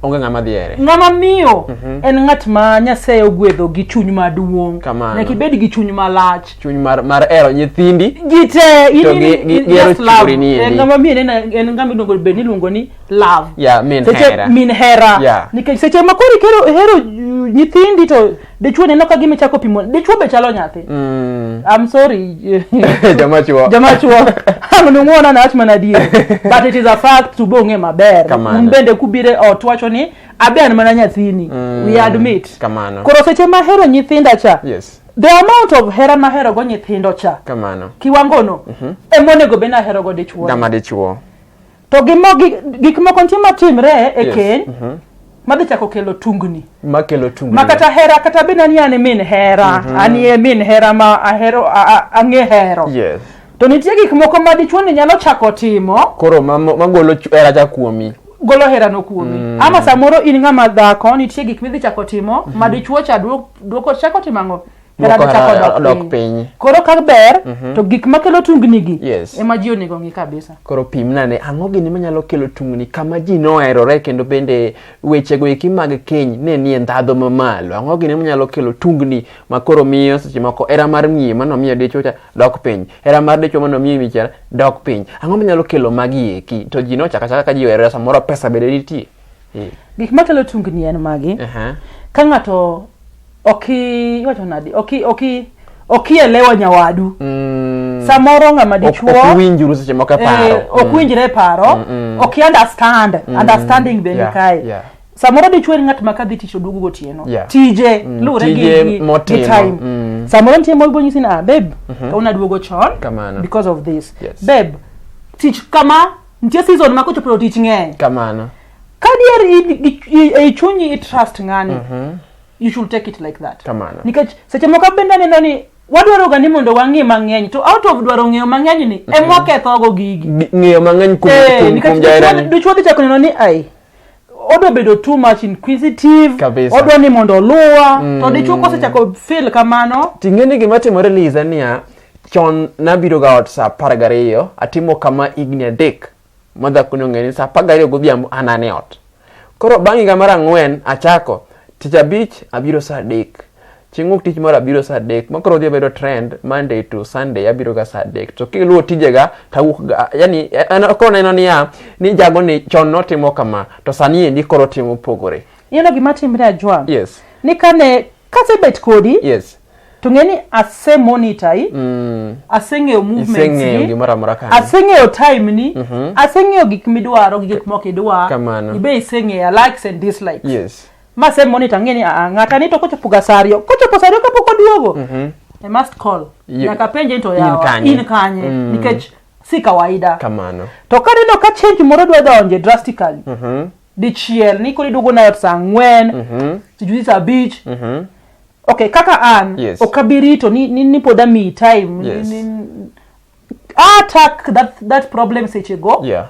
onge ng'ama dhiere ng'ama miyo mhm. en ng'at ma nyasaye ogwedho gi chuny maduong' nyaka ibed gi chuny malach chuny mar, mar ero nyithindi ji te eh, ng'ama miyo en ng'ama iluongo bed niluongo ni love yeah, min, seche, hera. min hera yeah. nikech seche ma koro ihero nyithindi to dichwo neno ka gima ichako pimo dichwo be chalo nyathi mm. I'm sorry jama chwo jama chwo ang'nuong'ona nawach mana adier but it is a fact to bong'e maber Kamano. un bende kubire ot wacho ni abe an mana nyathini mm. we admit Kamano. koro seche mahero nyithinda cha yes the amount of hera maherogo nyithindo cha kamano kiwangono mm -hmm. emonego be naherogo dichwo gama dichwo To gi mo- gi- gik moko nitie matimre e Yes. keny Mhm. madhi chako kelo tungni makelo tungni ma kata hera kata bed ani an e min hera an e min hera ma ahero a- a- ang'e hero yes to nitie gik moko ma dichwo ni nyalo chako timo koro ma- ma- magolo chu- hera cha kuomi golo herano kuomi ama samoro in ng'ama dhako nitie gik midhi chako timo ma dichwo cha duo- duoko chako timo ang'o hera Moko nochako hera odok odok piny. piny. Koro ka ber to gik makelo tungnigi Yes. ema ji onego ng'i kabisa. koro pimna ne ang'o gini manyalo kelo tungni kama ji noherore kendo bende wechego eki mag keny ne nie ndhadho mamalo ang'o gini manyalo kelo tungni ma koro miyo seche moko hera mar miye mano miyo dichwo cha dok piny hera mar dichwo mano miyo michara dok piny ang'o manyalo kelo magi eki to ji nochaka chaka ka ji oherore samoro pesa bende nitie Eh, Gik makelo tungni en magi. aha. Ka ng'ato oki iwacho nadi oki oki okielewa nyawadu Mm. samoro ng'ama Ok- dichuo ok uwinjuru seche moko e paro. eh, ok winjre e paro Mm, mm. ok understand understanding be Yeah, nikae yeah. samoro dichuo en ng'at ma ka dhi tich oduogo gotieno Yeah. tije Mm, lure gi- tije gi gi motimo, time mm. samoro nitie moro bonyisi ni ah babe kawuono aduogo chon Kamano. because of this Yes. babe tich kama nitie season ma kochopo tich ng'eny Kamano. kadier in- gi- i- ei chunyi i trust ng'ani you should take it like that Kamano. nikech seche moko bende aneno ni wadwaroga ni mondo wang'e mang'eny to out of dwaro ng'eyo mang'eny ni emwa kethogo gigi Gi- ng'eyo mang'eny kuom Eh, kuom- nikech kuom jaherani dichwo- dichwo dhi chako neno ni ai odwa bedo too much inquisitive Kabisa. odwa ni mondo oluwa to dichwo kosechako feel kamano ting'e ni gima timore liza niya chon nabiroga ot sa apar gariyo atimo kama higni adek ma dhakoni ong'e ni sa apar gariyo godhiambo an an e ot koro bang' higa mar ang'wen achako tich abich abiro sa adek chieng' wuok tich moro abiro sa adek ma koro odhi obedo trend monday to sunday abiro ga sa adek to kiluwo tijega tawuok ga yani en- koro neno niya ni jago ni chon notimo kama to sani endi koro timo opogore Ineno gima timre Ajwang'? yes Ni kane kasebet kodi yes to ng'e ni ase monitor i mm. aseng'eyo movements aseng'eyo time ni mm -hmm. aseng'eyo gik midwaro gi gik mok idwa ibe iseng'eya likes and dislikes yes. ma se monitor ng'e ni ah, ng'ata ni to kochopo ga saa ariyo kochopo saa ariyo kapok oduogo mm -hmm. I must call nyaka penje to yawa in kanye mm. nikech si kawaida kamano to kaneno ka change moro dwa donje drastically mm -hmm. dichiel ni koro iduogo nayot saa ang'wen mhm. sijuzi saa abich mhm. ok kaka an yes. ok abirito ni, ni, ni pod amiyi time yes. ni, ni, attack that, that problem seche go yeah.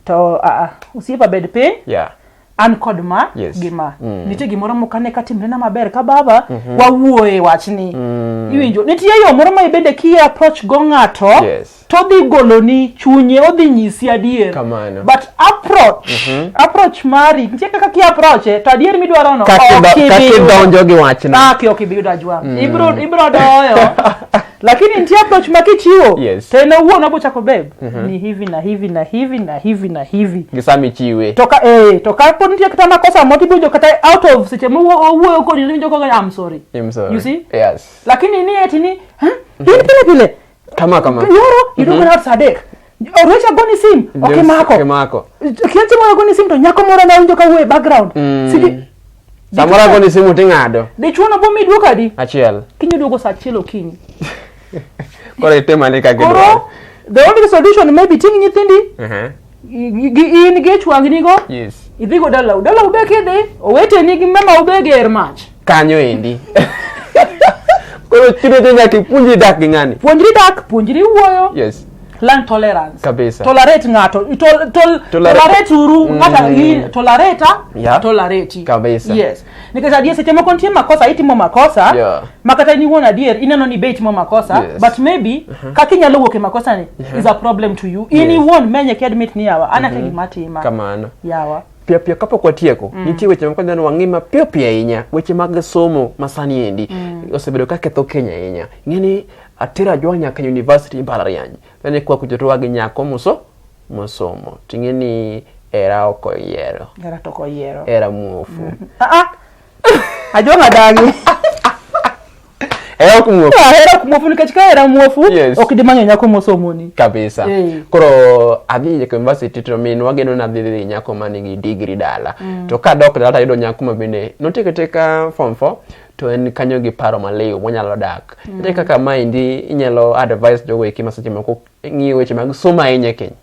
to uh, uh, usiepa bed piny yeah an kod ma yes. gi ma mm. nitie gimoro moko ane ka timrena maber ka baba mm -hmm. wawuoye wachni mm. iwinjo nitie yo moro ma ibende ki approach go ng'ato yes. Christ. to odhi goloni chunye odhi nyisi adier Kamano. but approach approach mari nitie kaka ki approach e, to adier midwaro no Kaki ok do- ibi kaki yudo. donjo gi wachno. Kaki ok ibi yudo ajwa ibro ibro doyo lakini nitie approach ma kichiwo Yes. to en owuon obo chako beb ni hivi na hivi na hivi na hivi na hivi Gi sama ichiwe. to ka eh to ka pod nitie kata makosa moti biwinjo kata out of seche ma owuo- owuoyo kodi iwinjo kaka I'm sorry I'm sorry. You see? Yes. lakini ni eti ni "Huh? in pile pile kama kama nyoro iluongo ni saa adek Oruech agoni sim okimako okimako kiasi moro agoni sim to nyako moro nawinjo kawuoyo e background mm. sidi samoro agoni simu ting'ado dichuo no bomi duoko adi achiel kiny oduogo saa achiel okinyi koro itemane ka gidwaro the only solution maybe ting' nyithindi uh -huh. gi gi in gi chwagnigo yes idhigo dalau dalau be kidhi oweteni gi mamau be ger mach kanyo endi koro chuno te nyaka ipuonjri dak gi ng'ani puonjri dak puonjri wuoyo yes learn tolerance Kabisa. tolerate ng'ato tol, tol, Tolera- tolerate uru Mm. ng'ata mm. tolerate Yeah. tolerate Kabisa. yes nikech adier seche moko nitie makosa itimo makosa Yeah. ma kata in iwuon adier ineno ni be itimo makosa Yes. but maybe kaka inyalo wuok e makosani is a problem to you in Yes. iwuon menye ki admit ni yawa an ake gima atima kamano yawa piyo piyo kapok watieko nitie weche moko dhano wang'i mapiyo piyo ahinya weche mag somo masani endi osebedo ka ketho kenya ahinya ing'e ni atera jwa nyaka university mbalariany nene kwa kujotowa gi nyako muso mosomo ting'e ni era ok oyiero era to ok oyiero era muofu mm-hmm. ah, ah. ajong' adagi era ok muofu ah, era ok muofu nikech ka era muofu ok dimanyo nyako mosomoni kabisa eh. koro adhi nyaka university to min wageno nadhi dhi nyako ma nigi digri dala mm. to ka dok dala tayudo nyako ma bende notieko teka form four to en kanyo gi paro maliw monyalo dak mm. kaka maendi inyalo advise jogo eki ma seche moko ng'iyo weche mag somo ahinya e keny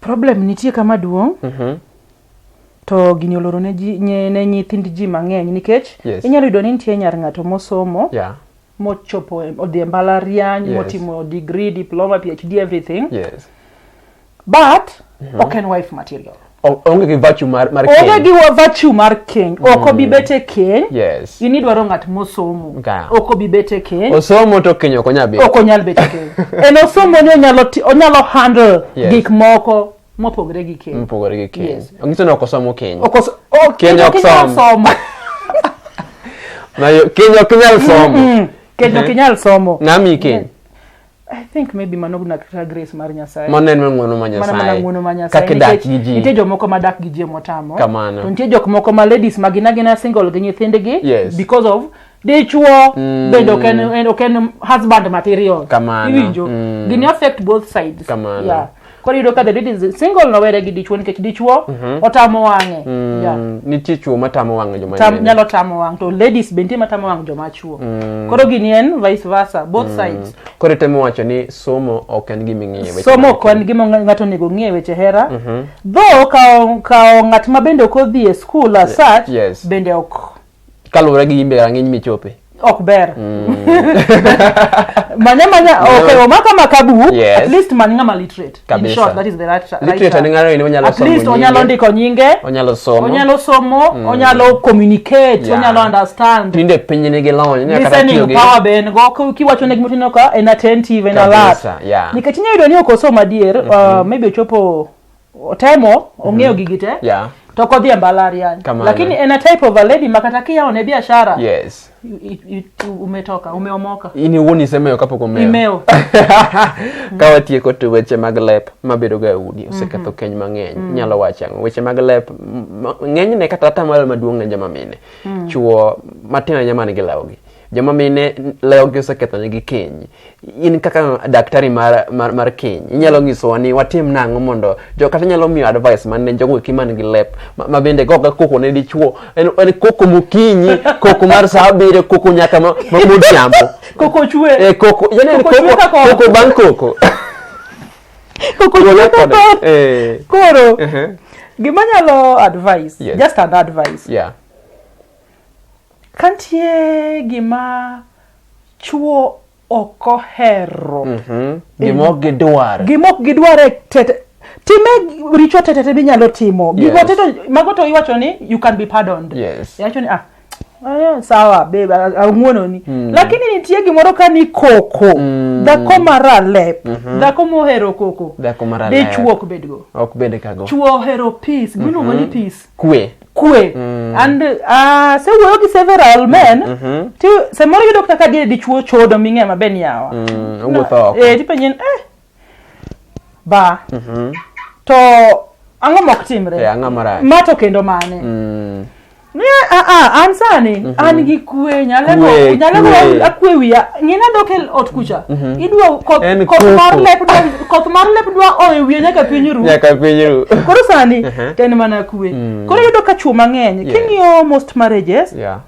problem nitie kama duong' mm -hmm. to gini oloro ne, ji, nye, ne nyithind ji mang'eny nikech Yes. inyalo yudo ni nitie nyar ng'ato mosomo yeah mochopo e- odhi e mbalariany Yes. motimo degree diploma phd everything yes but mhm. ok en wife material onge gi virtue mar mar keny onge gi virtue mar keny mm. ok obi bet e keny yes ini dwaro ng'at mosomo ok obi bet e keny osomo to keny ok onyal bet ok onyal bet e keny en osomo ni onyalo onyalo handle yes. gik moko mopogore gi keny mopogore gi keny yes. ongiso ni ok osomo keny ok osomo oh, keny ok osomo na keny ok nyal somo mm -hmm. keny ok nyal somo ng'ami keny yeah. I think maybe mano gna kata grace mar Nyasaye. Mano en ng'wono ma Nyasaye. Mano mana ng'wono ma Nyasaye. Kaka dak gi ji. Nitie jomoko ma dak gi ji motamo. Kamano. To nitie jok moko ma ladies ma gina gina single gi nyithindgi. Yes. Because of dichuo mm. bende ok en ok en husband material. Kamano. Iwinjo. Mm. Gini affect both sides. Kamano. Yeah. koro iyudo ka the lady is single nowere gi dichwo nikech dichwo otamo wang'e Yeah. Mm, nitie chuo matamo wang'o joma Tam, nene. nyalo tamo wang' to ladies be nitie matamo wang' joma chuo koro gini en vice versa both sides koro itemo wacho ni somo ok en gima ing'iye weche somo mag- ok en gima ng- ng'ato onego ng'e weche hera though kawo kawo ng'at ma bende ok odhi e skul as such yes. bende ok kaluwore gi yimbe rang'iny michope ok ber mm. manya manya okay omaka makabu yes. at least man ngama literate Kabisa. in short that is the right literate right ngaro ni onyalo somo at least onyalo ndiko nyinge onyalo somo onyalo somo mm. onyalo communicate yeah. onyalo understand tinde piny ni gilony ne kata tiyo gi power ben go kiwacho ne gimotino ka en attentive en alert yeah. nikech nyayudo ni okosoma adier mm -hmm. uh, maybe ochopo otemo ong'eyo mm -hmm. gigi te yeah. to ok odhi e mbalariany lakini en a type of a lady makata kiyawone biashara yes. umetoka umeomoka ini wuon isemeyo kapok omeyo ka watieko to weche mag lep mabedoga e udi oseketho mm -hmm. keny mang'eny mm. nyalo wacho ang'o weche mag lep ng'enyne kata atamalo maduong' ne joma mine mm. chuo matin ahinya man gi lawgi joma mine lewogi osekethonegi keny in kaka daktari mar, mar, mar keny inyalo nyisowa ni watim nang'o mondo jo kata inyalo miyo advice man ne jogo eki man gi lep ma, ma bende goga koko ne dichuo en, en koko mokinyi koko mar saa abiriyo koko nyaka ma- ma- modhiambo koko chwe Eh, koko yani en Koko chwe kaka koko koko bang' koko koko Thuolo chwe kod- koko eh, koro ehe, gima nyalo advice Yes. just an advice yeah Kantie gima chuo ok ohero. Mhm. Gima ok gidwar. Gima ok gidwar e tete time richo tete te minyalo timo. Gigo Yes. teto mago to iwacho ni you can be pardoned. Yes. Iwacho ni ah eh, sawa babe a- ang'wononi lakini nitie gimoro ka ni koko dhako mara lep dhako mohero koko Dhako mara lep. dichwo ok bedgo Ok bed kago. chwo ohero peace gimiluongo ni peace kwe kwe mm. and uh, se wuoyo gi several men mm -hmm. ti samoro yudo kaka diere dichuo chodo ming'e maber ni yawa mm, owuotho no, oko eh, tipenyen eh, ba mm -hmm. to ang'o mok timre yeah, e, ma to kendo mane mm. Ne, a, ah, a, ah, an sani mm -hmm. an gi kwe nyalego nyalego akwe wiya ng'ina dok e ot kucha mm -hmm. idwa koth mar lep koth mar lep dwa oyo wiye nyaka piny ru nyaka piny ru koro sani uh-huh. to en mana kwe mm. koro iyudo ka chuo mang'eny yeah. king'iyo most marriages yeah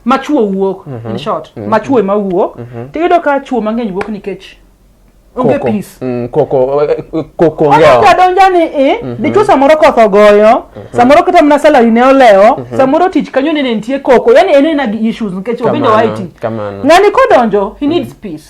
ma chuo wuok mm -hmm. in mm-hmm. short mm -hmm. ma chuo ema wuok mm -hmm. to iyudo ka chuo mang'eny wuok nikech onge peace mm, koko eh, eh, koko ngeo ona donja ni i eh, mm -hmm. dichuo samoro koth ogoyo mm -hmm. samoro kata mana salary ne olewo mm -hmm. samoro tich kanyo nene nitie koko yani en ena gi issues nikech obende waiti ng'ani kodonjo he needs mm -hmm. peace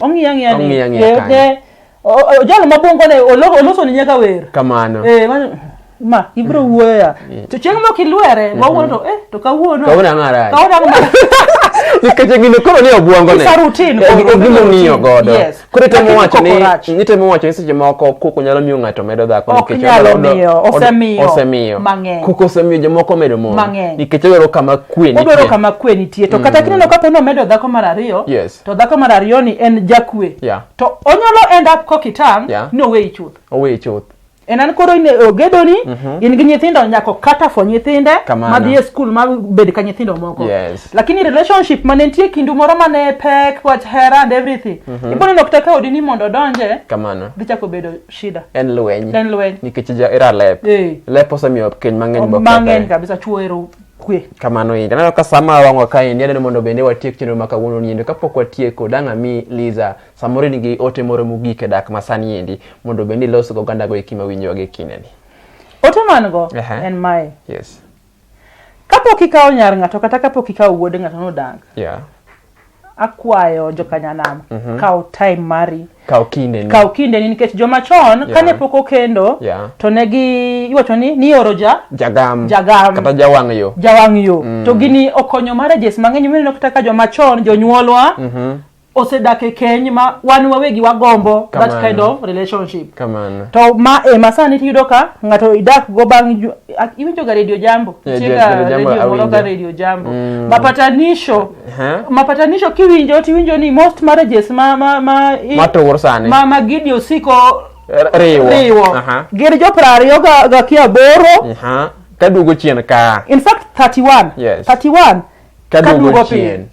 Ong'iya ng'iya ni. Ong'iya ng'iya Eh, kanyo. eh, o- o- Jalo ma bongo ne olo- oloso ni nyaka wer. kamano Eh, ma- ma ibro wuoyo ya. To chieng' mok ilwere, wawuono to eh to kawuono. Kawuono ang'o marach? Kawuono ang'o marach? nikeche gino koro ni obwongo ne It's a routine, Eh, koro, gi- gima ong'iyo routine, godo yes. koro itemo Lakini wacho ni koko rach. itemo wacho ni seche moko koko nyalo miyo ng'ato medo dhako Ok nikech nyalo odo- miyo, odo- osemiyo osemiyo mang'eny. koko osemiyo jomoko medo mon Mang'eny. nikech odwaro kama kwe Odwaro nitie. kama kwe nitie to kata kineno kapo ni omedo dhako mar ariyo Yes. Yes. To dhako mar ariyo ni en jakwe. Yeah. To onyalo end up kokitang yeah. ni oweyi chuth. Oweyi chuth. En an koro ine ogedo ni mm -hmm. in gi nyithindo nyako kata fo nyithinde ma dhi e skul ma bed ka nyithindo moko. Yes. Lakini relationship ma ne nitie kindu moro ma ne pek wach hera and everything. Mm -hmm. Ibone nok teka odi ni mondo odonje. Kamano. Dhi chako bedo shida. En lweny. En lweny. Nikech ja era lep. Hey. Lep osemiyo keny mang'eny bokethore. Mang'eny kabisa chuo ero kwe. Kamano endo. Aneno ka sama wang'wa kaendi aneno mondo bende watiek chenro ma kawuono niendo. Kapok watieko dang' ami Liza samoro in gi ote moro mogik e dak ma sani endi mondo bende ilos go oganda go eki ma winjowa gi kindeni. Ote man go Aha. en mae. Yes. Kapok ikawo nyar ng'ato kata kapok ikawo wuod ng'ato nodank. Yeah. akwayo jokanyanam mm-hmm. kaw time mari kaw kindeni kaw kindeni nikech joma chon yeah. kane pok okendo yeah. to ne gi iwacho ni nioro ja jagam jagam kata jawang' yo jawang' yo mm. to gini okonyo marriages mang'eny mineno kata ka joma chon jonyuolwa mm -hmm osedak e keny ma wan wawegi wagombo that kind of relationship Kamana. to ma e ma sani tiyudo ka ng'ato idak go bang' iwinjoga radio jambo yeah, radio jambo mapatanisho Aha. mapatanisho kiwinjo tiwinjo ni most marriages ma ma ma i- Matur sani. ma ma gidi osiko R- riwo. riwo Aha. gin jo piero ariyo ga- ga ki aboro Aha. Ka duogo chien ka. in fact 31 Yes. 31 Ka Ka duogo duogo piny. chien.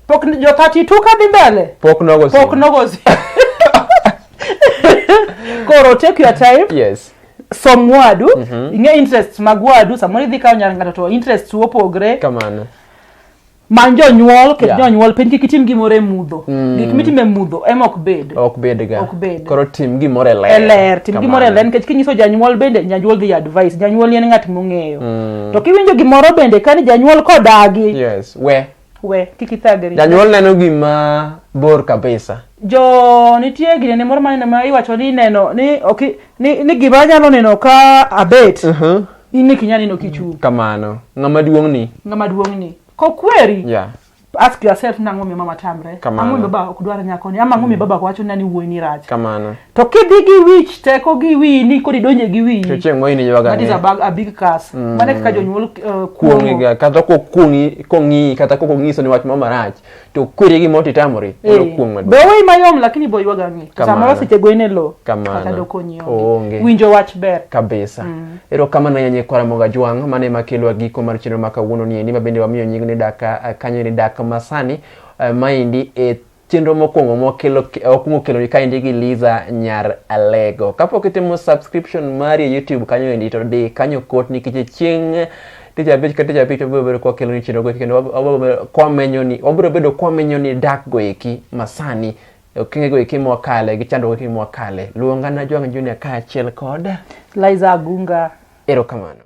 pok ni- jo 32 ka dhi mbele Pok nogo pok sin. nogo si- koro take your time Yes. som wadu ing'e interests mag wadu samoro idhi kawo nyar ng'ato to interests opogre Kamano. many jonyuol ket Yeah. jonyuol piny kik itim gimoro e mudho gik mitimo e mudho ema ok bed ok bedga Ok bed. koro tim gimoro e ler e ler tim Kamano. gimoro e ler nikech kinyiso janyuol bende janyuol dhi advice janyuol en ng'at mong'eyo to kiwinjo gimoro bende kani janyuol kodagi yes we we kik ithagri janyuol neno gima bor kabisa jo nitie ginene moro maneno ma iwacho ni neno ni ok ni, ni gima nyalo neno ka abet Mhm. in ne kinya neno kichung kamano ng'ama duong' ni ng'ama duong' ni kokweri yeah ask yourself na ng'o mama tamre ang'o baba ok dwar nyako ni ama ang'o mi mm. baba wacho nani wuoyi ni rach kamano to kidhi gi wich teko gi wiyi ni kodi donje gi wiyi to chieng' moyini ywaga that is a big, a big curse mm. mane kaka jonyuol uh, kuong'iga kata kokuong'i kong'i kata kokong'iso ni wach mama rach to kwere gi moti tamori eh. olo kuong maduong. Be ma yom lakini bo ywaga ngi. Samoro seche go ine lo. Kata doko nyio. Onge. Winjo wach ber. Kabisa. Mm. Ero kama na yanye kwa ramoga juang mane makelo agiko mar chenro maka wuono ni endi mabende wamiyo nyingi ni daka eh, kanyo ni daka masani uh, eh, maindi e eh, chenro mokwongo mokelo okwongo kelo ni kaendi gi Liza Nyar Alego. Kapok itimo subscription mari e YouTube kanyo endi to di kanyo kot nikech chieng' tich abich ka tich abich wabiro bedo kwakelo ni chenro goeki kendo wabiro bedo kwamenyo ni wabiro bedo kwamenyo ni dak goeki masani okenge goeki mwakale gi chandruok goeki mwakale luongana jwang' junior kaachiel kod Liza Agunga. erokamano